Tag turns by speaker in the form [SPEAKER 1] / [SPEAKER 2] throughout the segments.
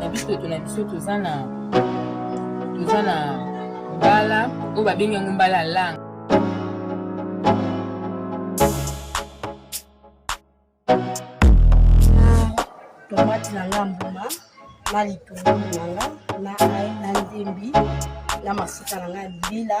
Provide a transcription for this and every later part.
[SPEAKER 1] na biso eto na biso toza na toza na mbala oyo babengi yango mbala ya langa
[SPEAKER 2] tomati na nga mbuma na litungulu na nga na ai na ndembi na mafuta na nga ya mbila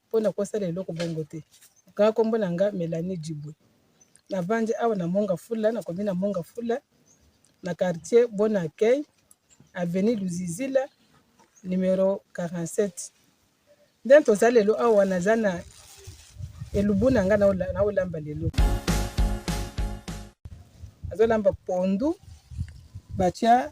[SPEAKER 3] mpo na kosala eloko bongo te. Nga nkombo na nga Melanie Dibwe, navandi awa na Monga Fula, na komi na Monga Fula, na quartier Bon Accueil, avenue Luzizila, numero 47. Nde toza lelo awa, naza na elubu na nga naolamba lelo, nazolamba pondu batya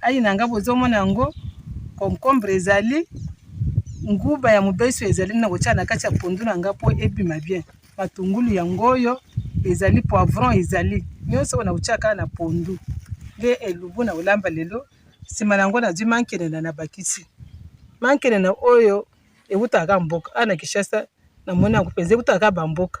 [SPEAKER 3] Ayi na nga bozomona yango concombre ezali nguba ya mobeso ezali na kotya na kati ya pondu na nga mpo ebima bien matungulu yango oyo ezali poivron ezali nyonso oyo nakotyaka na pondu nde elubu na kolamba lelo nsima na yango nazwi mankelena na bakisi mankelena oyo ewutaka mboka awa na kinshasa namoni yango mpenza ewutaka bamboka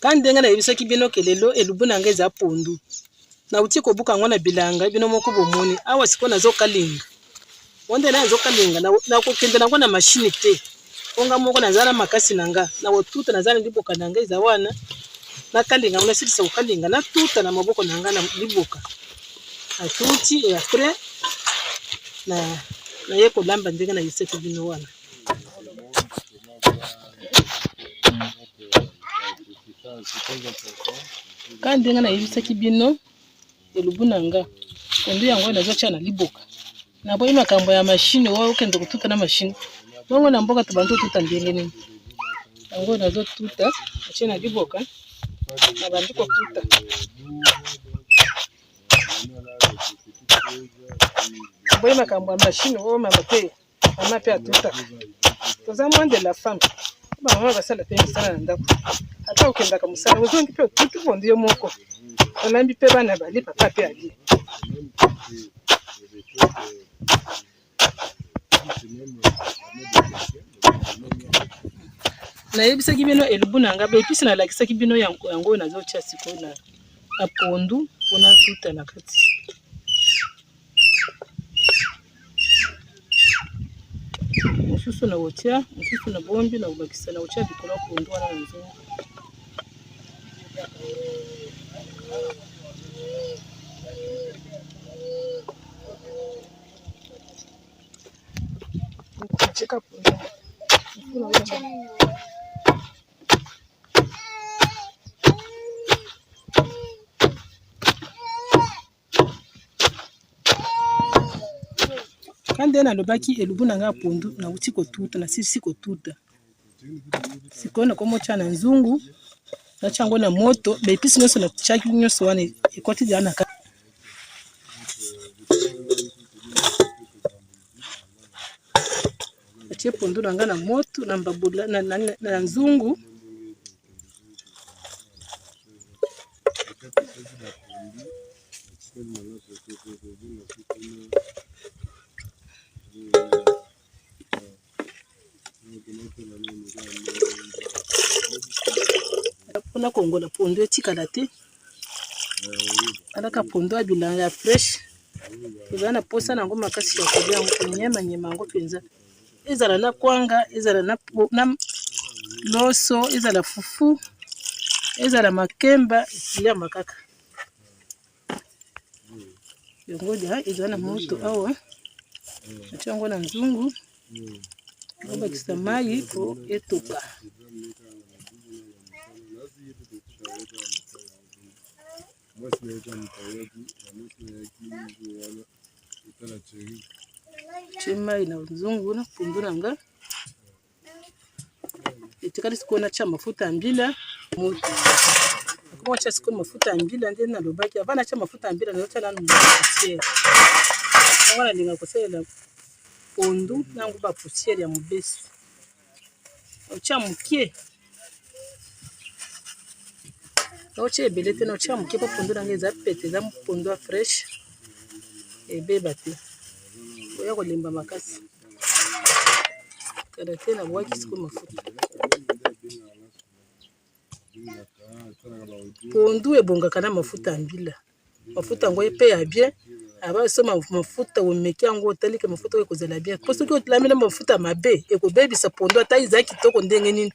[SPEAKER 3] kani ndenge nayebisaki bino ke lelo elubu na ngai eza pondu nauti kobuka yango na bilanga bino moko bomoni awa sikoyo nazokalinga wanda na azo kalenga na kokende nango na mashine te mpo nga moko naza na makasi na nga na kotuta naza na liboka na nga eza wana nakalenga ngo nasilisa kokalenga natuta na maboko na nga na liboka atuti e apres naye kolamba ndenge na yesaki bino wana ka ndenge nayebisaki bino elubu na nga kondo yango nazotya na liboka naboyi makambo ya mashine oyo okende kotuta na mashine bongo na mboka tobandi otuta ndenge nini yango nazotuta atye na liboka nabandi kotuta boyi makambo ya mashine oyo mama te mama mpe atutaka toza moins de la femme bango basala mpe misala na ndako ata okendaka mosala ozongi mpe otuki bondi yo moko olambi mpe bana bali papa mpe ali nayebisaki bino elubu na ngai baepisi nalakisaki bino yango oyo nazotya sikoyo na pondu mpona tuta na kati mosusu na kotia mosusu na bombi na kobakisa na kotia likolo ya pondu wana na nzungu katika punde nga nde nalobaki elubu na ngai pondu nauti kotuta nasilisi kotuta sikoyo nakomotya na nzungu natya yango na moto baepisi nyonso natyaki nyonso wana ekoti deya na kati Natie pondu na ngai na moto na mbabula na, na, na, na nzungu mpona kongola pondu etikala te alaka pondu ya bilanga ya fresh eza na posa na yango makasi ya kolia yango konyema nyema yango mpenza ezala na kwanga ezala na loso ezala fufu ezala makemba liama kaka yango lia eza na moto awa ati yango na nzungu Nabakisa mayi po etoka. mwasi na ye ta moto ayaki na mwasi na yaki jour wana etala cheri tie mai na nzungu na mpundu na nga etikali sikoyo natya mafuta ya mbila moto akoma atya sikoyo mafuta ya mbila nde nalobaki ava natya mafuta ya mbila nazotya nanu poussière yango nalinga kosalela pondu nango ba poussière ya mobesu otya moke naotya ebele te naotya moke mpo pondu nango eza pete eza pondu ya fraîche ebeba te oya kolemba makasi Kada te na bwaki siko mafuta. Pondu ebongaka na mafuta ya mbila. Mafuta yango epe ya bien. Aba so mafuta omeki yango otali ke mafuta oyo ekozala bien. Po soki otlami na mafuta mabe ekobebisa pondu ata eza kitoko ndenge nini.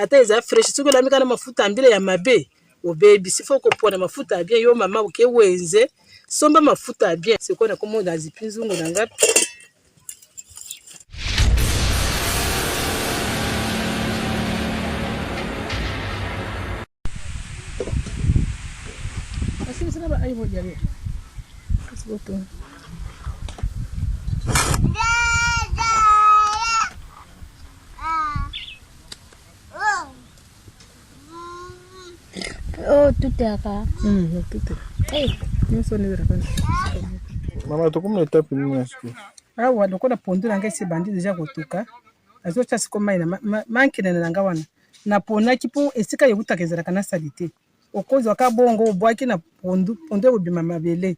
[SPEAKER 3] Ata eza fresh soki olami kaka na mafuta ya mbila ya mabe. obebi sifo kopona mafuta ya bien yo mama oke wenze somba mafuta ya bien sikoyo nakomona azipi nzungu na ngai
[SPEAKER 4] Mama, tokomi na etape nini na sikoyo? Awa lokola
[SPEAKER 3] pondu na ngai sebandi deja kotuka, azotya siko mai na mankenene na ngai wana naponaki mpo esika ewutaka ezalaka na salite, okozwa ka bongo obwaki na pondu, pondu ekobima mabele.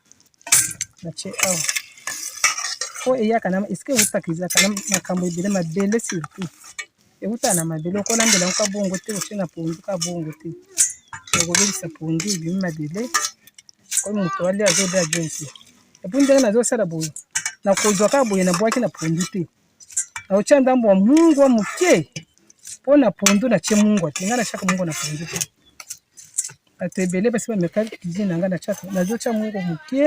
[SPEAKER 3] natie awa po eyaka na eske ewutaka ezalaka na makambo ebele mabele surtout ewutaka na mabele okolambela yango ka bongo te otie na pondu ka bongo te okobebisa pondu ebimi mabele oyo moto alia azolia bien te epuis ndenge nazosala boye nakozwa kaka boye nabwaki na pondu te naotya ndambo ya mungwa moke mpo na pondu natye mungwa te ngai natyaka mungwa na pondu te bato ebele basi bameka cuisine na ngai natyaka nazotya mungwa moke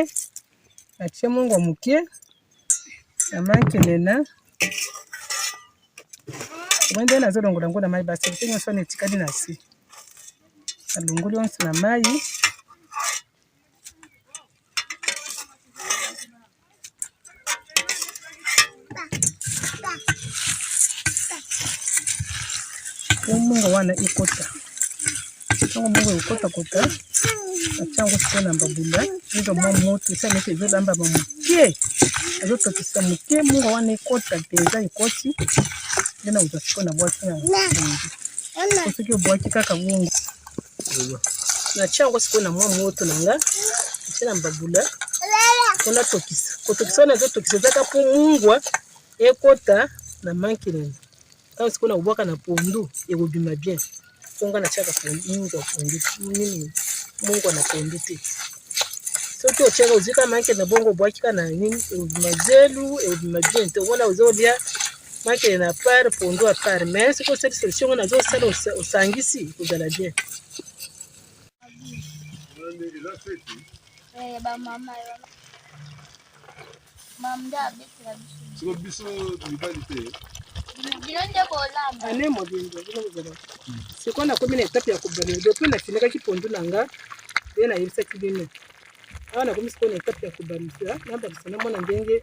[SPEAKER 3] natye mungwa moke na manke nena omoi nde nazolongola yango na mai basi te nyonso wana etikali na se nalongoli yonso na mai omongo wana ekota ntango mongo ekotakota atya yango sikoyo na mbabula ezo mwa moto esali neti ezolamba ba moke ezotokisa moke mongo wana ekota mpenza ekoti nde na kozwa sikoyo na bwaki yango soki obwaki kaka bongo natia yango sikoyo na mwa moto na nga natia na mbabula mpo natokisa kotokisa wana ezotokisa ezaka mpo mungwa ekota na mankelele ntango sikoyo nakobwaka na pondu ekobima bien mpo nga natiaka mungwa pondu nini mungwa na pondu te soki otiaka ozwi ka manke na bongo obwaki ka na nini ekobima zelu ekobima bien te omona ozolia Makele na part pondu a part mais soki osali solution ngo nazo sala osangisi kozala bien. Eh, ba mama yo.
[SPEAKER 4] Mamda abetela biso. Siko biso mibali te. Bino nde bolamba.
[SPEAKER 3] Ane mobimba bino bozala. Sikoyo nakomi na etape ya kobanda depuis nafinikaki pondu na nga nde nayebisaki bino awa nakomi sikoyo na etape ya kobandisa nabandisa namona ndenge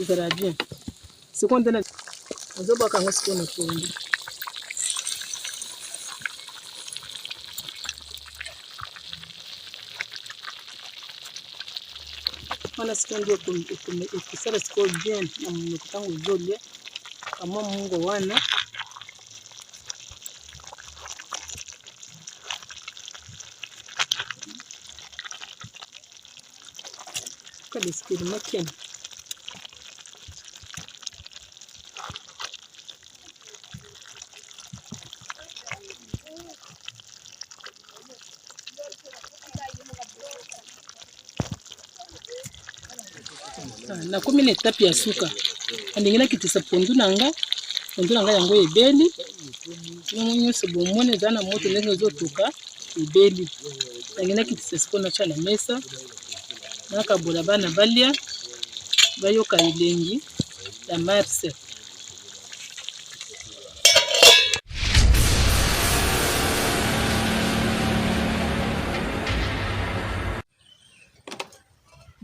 [SPEAKER 3] Ezala bien. Sikoyo nde nazobwaka yango sikoyo na pondu. wana sikoyo nde ekosala sikoyo bien na monoko ntango ozolia kamwa mongo wana Quel esprit de maquille nakomi na etape ya suka ndenge nakitisa pondu na nga pondu na nga yango ebeli yango nyonso bomoni eza na moto ndenge ezotuka ebeli tangi nakitisa siko natya na mesa nakabola bana balya bayoka elengi ya marse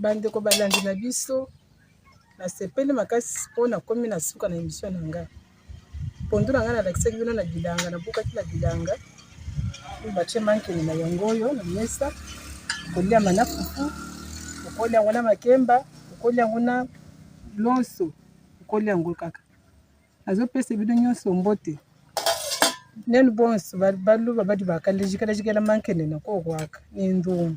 [SPEAKER 3] Bandeko balandi na biso, nasepeli makasi mpo nakomi na suka na emission na ngai. Pondu na ngai nalakisaki bino na bilanga, nabukaki na bilanga batie mankini na yango oyo na mesa, kolia mana fufu, okolia yango na makemba, okolia yango na loso, okolia yango kaka. Nazopesa bino nyonso mbote nenu bonso baluba badi bakalejikala jikela mankini na kokwaka ni ndumbu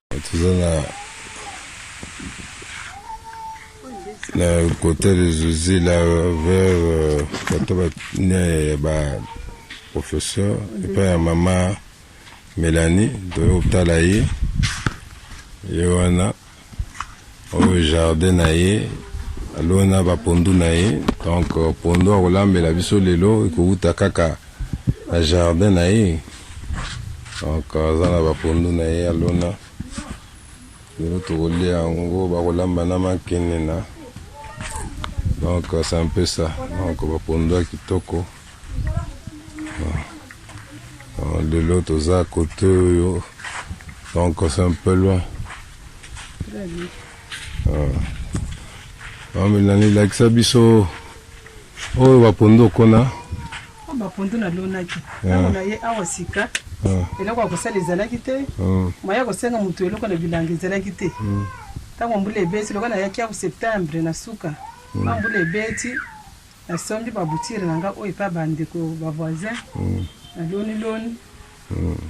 [SPEAKER 4] toza na na kote de zuzi la vers euh, bato bane ya ba professeur epai ya mama melanie toyo kotala ye ye wana Oyo jardin na ye alona ba pondu na ye donc pondu akolambela biso lelo ekowuta kaka na jardin na ye donc aza na ba pondu na ye alona lelo tokolia yango bakolamba na makenena donc c'est un peu ça donc ba pondu ya kitoko lelo toza kote oyo donc c'est un peu loin bamelani ah. lakisa biso oyo bapondu okona oh, bapondu
[SPEAKER 3] nalonaki ntango ah. na ye awa sika ah. eloko ya kosala ezalaki te maya kosenga moto eloko na bilanga ezalaki te hmm. ntango mbula ebeti lokola nayaki ya septembre na suka hmm. mbula ebeti Na sombi ba boutures na nga oyo epa ba ndeko ba voisins na loni loni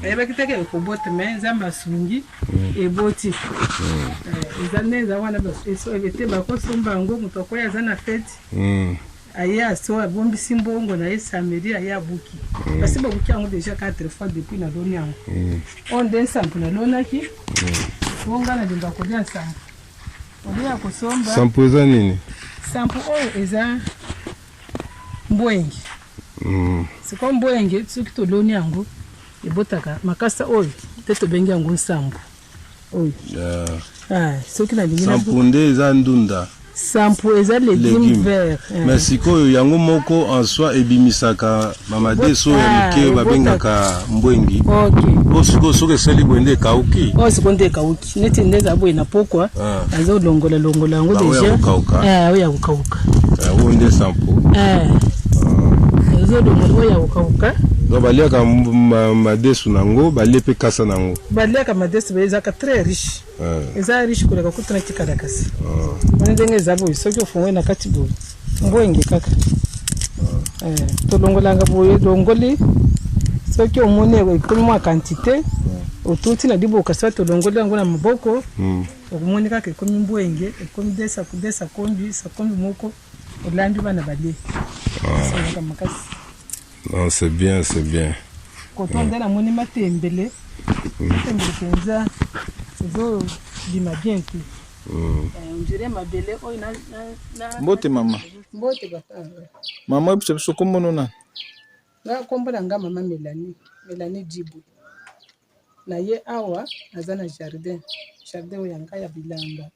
[SPEAKER 3] na yebaki te ke ekobota mais nzambe asungi eboti eza nde eza wana ete bako somba yango moto akoya aza na feti aye aso abombisi mbongo na ye samedi aye abuki mm. basi babuki yango deja 4 fois depuis na loni yango mm. oyo nde nsambo nalonaki mm. bonga na linga kolia nsambo oboya kosomba sampo eza nini
[SPEAKER 4] sampo oyo
[SPEAKER 3] eza mbwenge mm. sikoyo mbwenge soki toloni yango ebotaka makasa oyo mpe tobengi yango nsambo oyo yeah. ah, soki nalingi sampo nde eza
[SPEAKER 4] ndunda sampo eza
[SPEAKER 3] legume vert eh. mais sikoyo
[SPEAKER 4] yango moko en soi ebimisaka mamade so ya ah, moke babengaka mbwengi okay. o sikoyo soki esali boye nde ekauki o oh, sikoyo nde ekauki
[SPEAKER 3] neti nde eza boye na pokwa ah. azolongola longola yango deja oyo ya kokauka eh, eh, oyo nde
[SPEAKER 4] sampo
[SPEAKER 3] ezolongola ah. oyo ya kokauka donc baliaka
[SPEAKER 4] madesu na yango balie mpe kasa na yango baliaka madesu baye
[SPEAKER 3] ezalaka très riche eh. eza riche koleka kutu na kikalakasi wana ndenge eza boye soki ofongoli na kati boye Mbwenge kaka. Eh, tolongolanga boye longoli soki omoni ekomi mwa quantité otuti na liboka sa tolongoli yango na maboko hmm. okomoni kaka ekomi mbwenge ekomi desa desa kombi sa kombi moko olambi bana balie esalaka ah. makasi non c'est
[SPEAKER 4] bien c'est bien koto nde
[SPEAKER 3] namoni matembele hmm. matembele mpenza ezobima bien te Mbote mama.
[SPEAKER 5] Mbote papa.
[SPEAKER 3] Mama yebisa
[SPEAKER 5] biso kombo no nani? Nga
[SPEAKER 3] kombo na nga mama Melanie, Melanie Djibu. Na ye awa naza na jardin, jardin oyo ya nga ya bilanga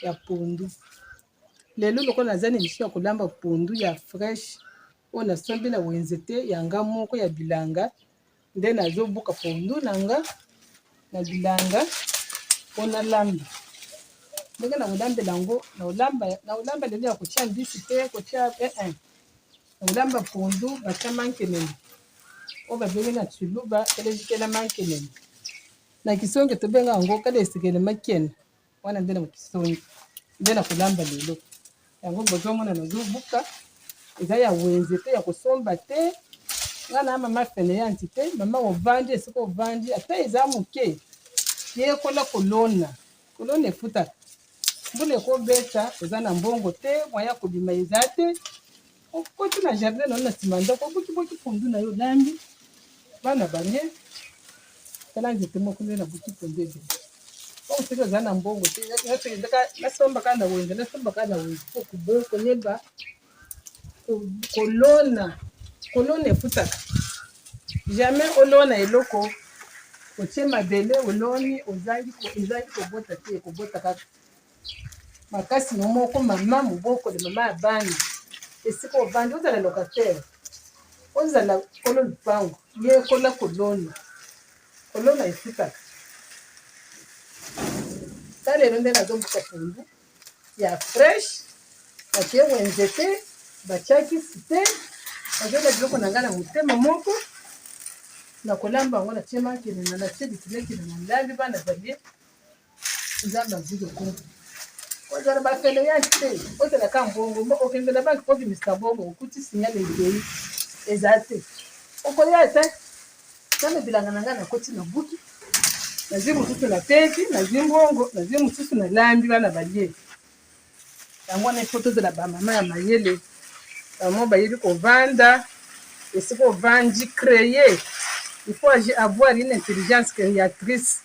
[SPEAKER 3] ya pondu. Lelo lokola naza na emission ya kolamba pondu ya fresh oyo nasombi na wenze te ya nga moko ya bilanga nde nazobuka pondu na nga na bilanga mpo nalamba ndenge na kolambela yango na kolamba lelo ya kotya mbisi te kotya ee eh, eh. na kolamba pondu batya mankenene oyo babengi na tshiluba elezikela mankenene na kisonge tobenga yango kala esekele makene wana nde na mokisoni nde na kolamba lelo yango bozomona nazobuka eza ya wenze te ya kosomba te nga na mama fene ya nti te mama ovandi esika ovandi ata eza moke yekola kolona kolona efutaka mbula ekobeta eza na mbongo te mwaya kobima eza te okoti na jardin na yo na nsima ya ndako obukiboki pondu na yo olambi bana bange tala nzete moko nde na buki pondu ebele oyo soki oza na mbongo te nasombaka na wenze nasombaka na wenze po koyeba kolona kolona efutaka jamais olona eloko otie mabele oloni ozangi ozangi kobota te ekobota kaka makasi no moko mama mobokoli mama ya bana esika ovandi ozala locataire ozala kolo lupango yekola kolona kolona efutaka ta lelo nde nazombuka pondu ya fresh batie wenze te batiaki site nazona biloko na ngai na motema moko na kolamba yango natie makilina natie bikilekile na ndambi bana balie nzambe azwi lokumu ozala bafele ya te ozala ka mbongo mbo okende na banke obimisa bongo okuti signal ezei eza te okoya te nzambe bilanga na ngai nakoti na buki nazwi mosusu na teki nazwi mbongo nazwi mosusu na lambi bana balie yango wana ifo tozala bamama ya mayele bamo bayebi kovanda esika ovandi creye il faut avoir une intelligence créatrice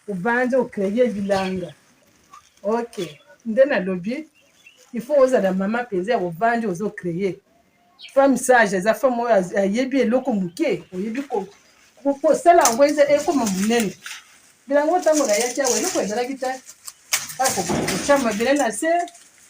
[SPEAKER 3] Obanza o creer bilanga. Ok. Nde nalobi. Il faut ozala mama penza ya obanza ozo creer. Femme sage eza femme oyo ayebi eloko moke. Oyebi ko kosala yango eza ekoma monene bilango ntango nayaki awa eloko ezalaki te akokotya mabele na se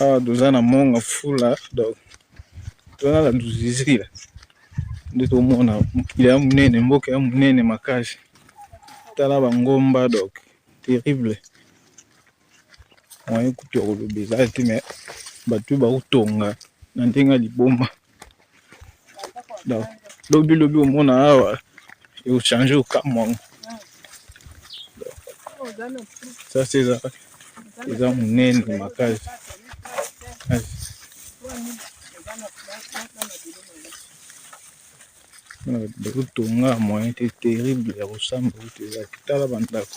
[SPEAKER 5] awa toza na monga fula donc toza na luzizila nde tomona mokili ya monene mboka ya monene makasi tala bangomba donc terrible moyen kutu ya koloba eza te me bato bakotonga na ndenge ya liboma donc lobi lobi omona awa eochange okamwa yango sasa eza eza monene makasi bakotonga moyen te terrible ya kosamba oyo te ezalaki tala bandako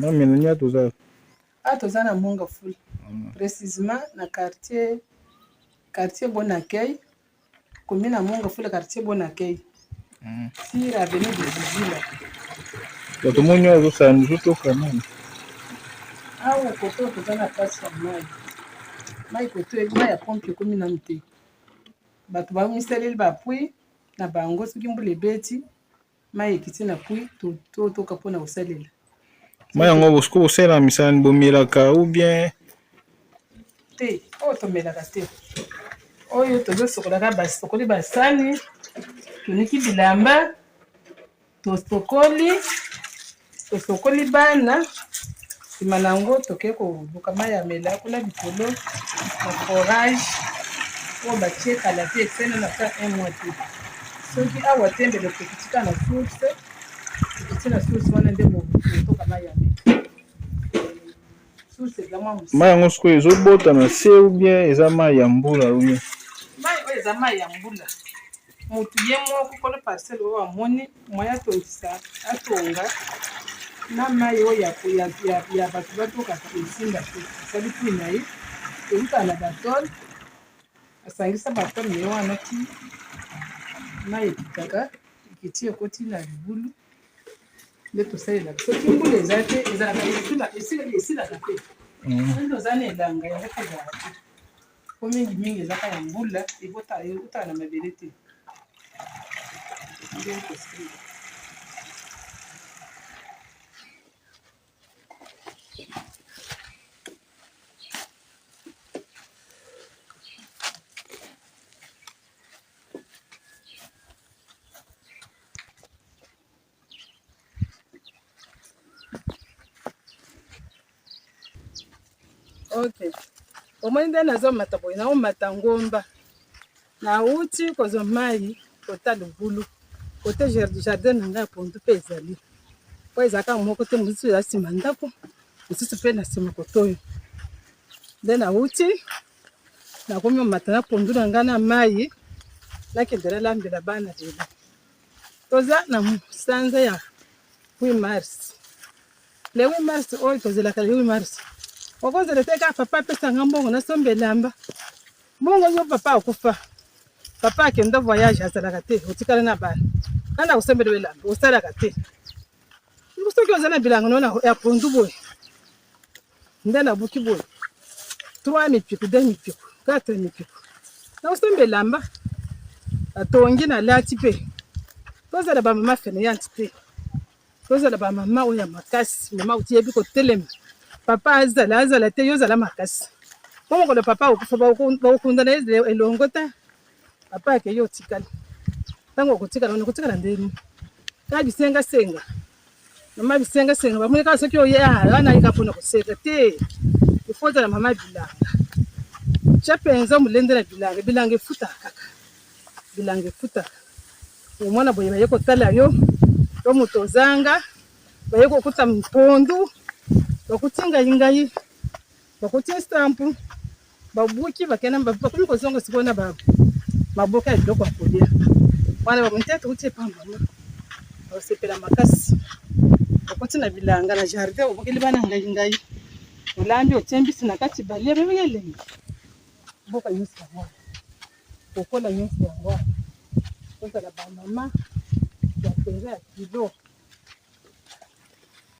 [SPEAKER 5] Namina toza ah,
[SPEAKER 3] toza na Monga Fula, mm. precisement na quartier quartier Bon Accueil Commune Amonga fula quartier bon accueil. Mm. Sur avenue de Zizila.
[SPEAKER 5] Bato moni oyo azosala miso toka nani?
[SPEAKER 3] Awa koto toza na place ya mai. Mai koto mai ya pompe ekomi nanu te. Bato bamisaleli bapui na bango soki mbula ebeti mai ekiti na pui totoka mpona kosalela mai yango
[SPEAKER 5] bosuku kosalela misala ni bomelaka ou bien
[SPEAKER 3] te oyo oh, tomelaka te oyo tozosokolaka basokoli basani toniki bilamba tosokoli Tosokoli bana, nsima na yango tokei koluka mai ya mela kuna likolo na forage oyo batie kala te esene na ta un mois te soki awa te mbele tokiti ka na source tokiti na source wana nde motoka mai ya mela Mai yango sikoyo ezobota
[SPEAKER 5] na se ou bien eza mai ya mbula ou bien? Mai oyo eza
[SPEAKER 3] mai ya mbula. Motu ye moko kolo parcelle oyo amoni moyen atondisa atonga na mai oyo ya bato batokaka ezinda te asali pui na ye eutaka na batole asangisa batole na ye wana ti mai ekitaka ekiti ekoti na libulu nde tosalelaka soki mbula eza te ezalaka esilaka te soki toza na elanga yango mpe ezalaka te po mingi mingi ezaka ya mbula eutaka na mabele te nde tosalelaka Okay. Omoni nde nazomata boye, naomata ngomba, nauti kozwa mai kota libulu kote jardin na ngai ya pondu mpe ezali mpo ezalaka moko te, mosusu eza nsima ndako, mosusu mpe na nsima kotoyo. Nde nauti nakomi omata na pondu na ngai na mai, nakendela lambela bana lelo. toza na sanza ya 8 mars le 8 mars oyo tozelaka le 8 mars okozela te kaka papa apesanga mbongo nasomba elamba mbongo yo papa akufa papa akenda voyage azalaka te otikala na bana nani akosombela yo elamba osalaka te soki oza na bilanga nona ya pondu boye nde nabuki boye 3 mipiku 2 mipiku 4 mipiku nakosemba elamba natongi nalati mpe tozala bamama feneyante te tozala bamama oyo ya makasi mama otiyebi kotelema papa azala azala te yo ozala makasi mpo mokolo papa okufa bakokunda na ye elongo te papa akeyi otikali ntango okotikala wana okotikala ndeni kaka bisengasenga Mama bisenga senga bamoni kaka soki oye ala ah, nayika mpona koseka te ifo ozala mama bilanga tya mpenza molende na bilanga bilanga efutaka kaka bilanga efutaka omwana boye baye kotala yo to moto ozanga baye kokuta mpondu bakuti ngai ngai Bakotia stamp, babuki bakenda bakomi kozonga sikoyo na ba maboka ya biloko ya kolia. Wana ba mutete uti epa mama. Basepela makasi. Bakoti na bilanga na jardin obokeli bana ngai ngai. Olambi otie mbisi na kati balia bebe elengi. Boka nyonso yango. Kokola nyonso yango. Kozala ba mama ya mpenza ya kilo.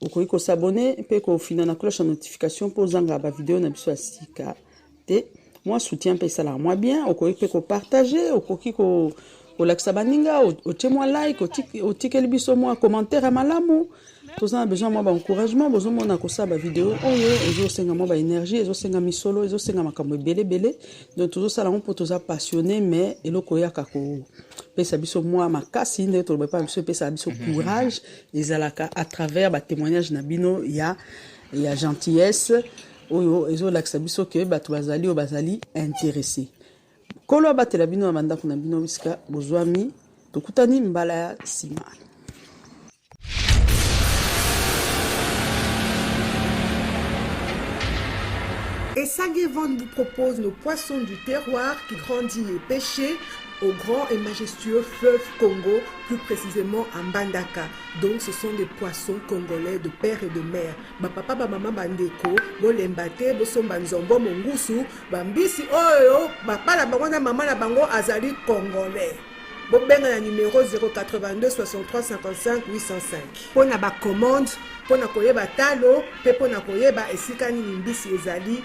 [SPEAKER 6] okoki ko s'abonner mpe kofina na cloche ya notification mpo ozanga ba video na biso ya sika te mwa soutien mpe esalaka mwa bien okoki mpe kopartage okoki ko kolakisa baninga otie mwa like otikeli biso mwa commentaire ya malamu toza na besoin mwa baencouragement bozomona kosala bavideo oyo ezosenga mwa baénergie ezosenga misolo ezosenga makambo ebele ebele donc tozosala yango mpo toza passionné mais eloko oyaka kopesa biso mwa makasi nde toloba epai biso epesaka biso mhm. courage ezalaka à travers ba témoignages na bino ya ya gentillesse oyo ezolakisa biso ke bato bazali oyo bazali interesse nkolo abatela bino na bandako na bino bisika bozwami tokutani mbala ya nsima
[SPEAKER 7] Esagevon vous propose nos poissons du terroir qui grandit les pêchers au grand et majestueux fleuve Congo, plus précisément à Mbandaka. Donc ce sont des poissons congolais de père et de mère. Ba papa ba maman bandeko, bolemba te, bosomba nzombo mongusu, bambisi oyo, ba pala bango na maman na bango azali congolais. bobenga na numero 082 63 55 805 mpo na bacommande mpo na koyeba talo mpe mpo na koyeba esika nini mbisi ezali